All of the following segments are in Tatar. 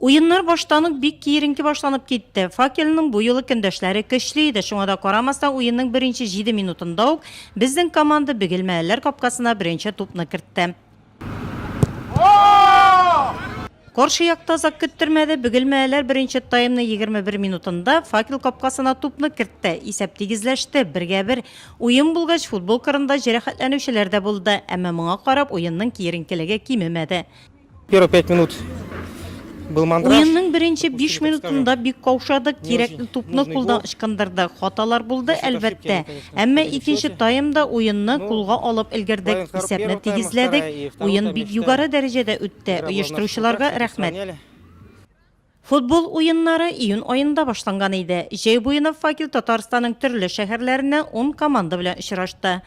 Уеннар баштан ук бик киеренке башланып китте. Факельның бу юлы көндәшләре көчле иде, шуңа да карамастан уенның беренче җиде минутында ук безнең команда бөгелмәлеләр капкасына беренче тупны кертте. Каршы якта озак көттермәде, бөгелмәлеләр беренче таймны 21 минутында Факел капкасына тупны кертте. Исәп тигезләште, бергә бер. Уен булгач, футбол кырында җәрәхәтләнүчеләр дә булды, әмма моңа карап уенның киеренкелеге кимемәде. Первые пять минут был мандраж. Уенның беренче биш минутында бик каушадык, кирәкле тупны кулдан ычкындырдык. Хаталар булды, әлбәттә. Әмма икенче таймда уенны кулга алып өлгердек, исәпне тигезләдек. Уен бик югары дәрәҗәдә үтте, оештыручыларга рәхмәт. Футбол уеннары июнь аенда башланган иде. Җәй буена Факел Татарстанның төрле шәһәрләреннән ун команда белән очрашты.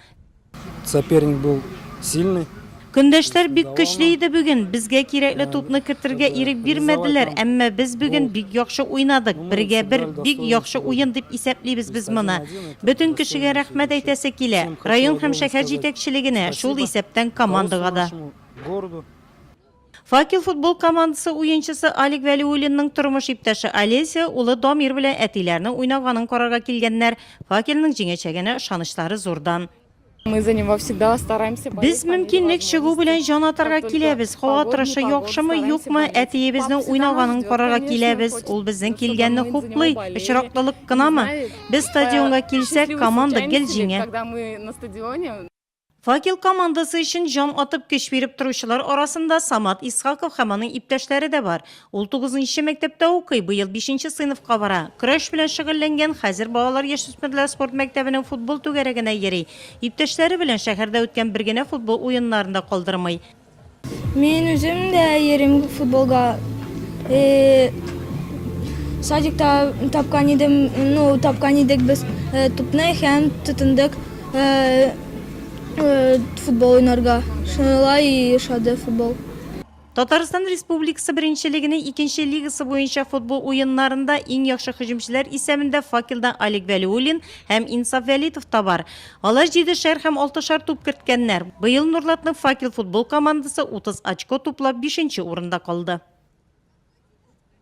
Соперник был сильный. Көндәшләр бик көчле иде бүген. Безгә кирәкле тупны кертергә ирек бирмәделәр, әмма без бүген бик яхшы уйнадык. Бергә бер, бик яхшы уен дип исәплибез без моны. Бөтен кешегә рәхмәт әйтәсе килә. Район һәм шәһәр җитәкчелегенә, шул исәптән командага да. Факел футбол командасы уенчысы Алик Вәлиуллинның тормыш иптәше Олеся улы Дамир белән әтиләренең уйнаганын карарга килгәннәр. Факельның җиңәчәгенә ышанычлары зурдан. Без мөмкинлек чыгу белән җан атарга киләбез. Һава торышы яхшымы, юкмы, әтиебезнең уйнаганын карарга киләбез. Ул безнең килгәнне хуплый. Очраклылык кынамы? Без стадионга килсәк, команда гел җиңә. Факел командасы өчен җан атып көч биреп торучылар арасында Самат Исхаков һәм аның иптәшләре дә бар. Ул тугызынчы мәктәптә укый, быел бишенче сыйныфка бара. Көрәш белән шөгыльләнгән, хәзер балалар-яшүсмерләр спорт мәктәбенең футбол түгәрәгенә йөри. Иптәшләре белән шәһәрдә үткән бер генә футбол уеннарын да калдырмый. Мин үзем дә йөрим футболга. Э, садикта тапкан идем, ну, тапкан идек без э, тупны һәм тотындык э, футбол уйнарга. Шулай ошады футбол. Татарстан Республикасы беренчелегенең икенче лигасы буенча футбол уеннарында иң яхшы һөҗүмчеләр исәбендә факелдан Олег Вәлиуллин һәм Инсаф Вәлитов та бар. Алар җидешәр һәм алтышар туп керткәннәр. Быел Нурлатның Факел футбол командасы 30 очко туплап бишенче урында калды.